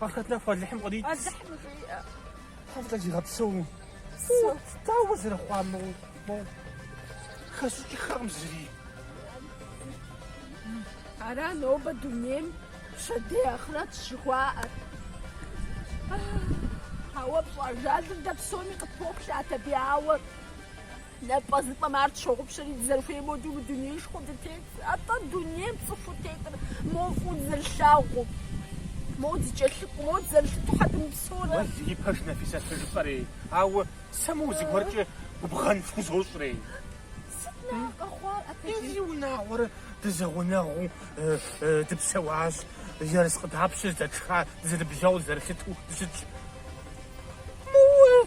Ахърэт нэху Алыхьым кърит. Алыхьым жиӏэ. Тхьэм къызигъэпсэу. Дауэ зэрыхъуа мо мо хэсщӏыкӏыххэкъым зыри. Ара нобэ дунейм пщэдей ахърэт жыхуаӏэр. Ауэ пщӏэ ажалыр дэ псоми къытпоплъэ Атэбей ауэ. Нэпӏэзыпӏэм ар тщогъупщэри, дызэрыхуей модэ мы дунеишхуэм дытет. Атӏэ дунейм цӏыхуу тетыр мо фӏыуэ дызэрылъагъуу, моуэ дызэкӏэлъыкӏуэу, моуэ дызэрылъыту щхьэ дымыпсэурэ? Уэ зи пэж Нэфисэ, сыт жыпӏэрей? Ауэ сэ моуэ зыгуэркӏэ губгъэн фхузощӏрей? Сыт нэхъ къэхъуар атӏэ ди? Ди унагъуэр дызэгъунэгъуу дыпсэуащ, ерыскъы дапщэ здэтшха, дызэныбжьэгъуу, дызэрылъыту дыщытщ? Моуэ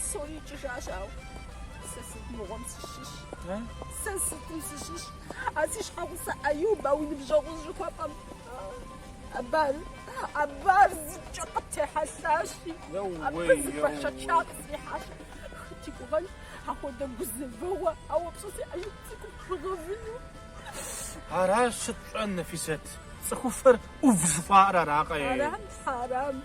Псори икӏыжащ, ауэ сэ сыт мыгъуэм сыщыщ? Сэ сытым сыщыщ? А си щхьэгъусэ Аюб а уи ныбжьэгъур жыхуэпӏэм абар, абар зыкӏэ къыттехьэлъащи, абы зы бэшэчагъ зэрихьащ. Хэт игугъэн апхуэдэ гузэвэгъуэ, ауэ пщӏэ си Аюб цӏыкӏум пхыгъэвыну. Аращ сыт пщӏэн, Нэфисэт, цӏыхуфэр ӏув жыхуаӏэр аракъэ-ей? Арам, арам.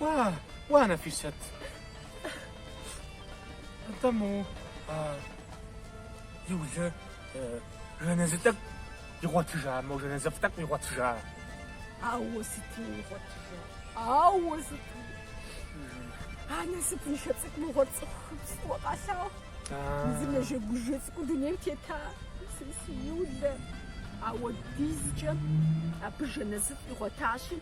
Уа, уа, Нэфисэт. Атӏэ мо а Юлэ жэназы тӏэкӏу игъуэтыжа, мо жэназыфӏ тӏэкӏу игъуэтыжа? Ауэ сыту игъуэтыжа, ауэ сыту. А насыпыншэ цӏыкӏу мыгъуэр цӏыхухэм фӏыуэ къалъагъуу. Зы нэжэгужэ цӏыкӏу дунейм тета, си Юлэ. Апхуэдизкӏэ абы жэназыфӏ игъуэтащи,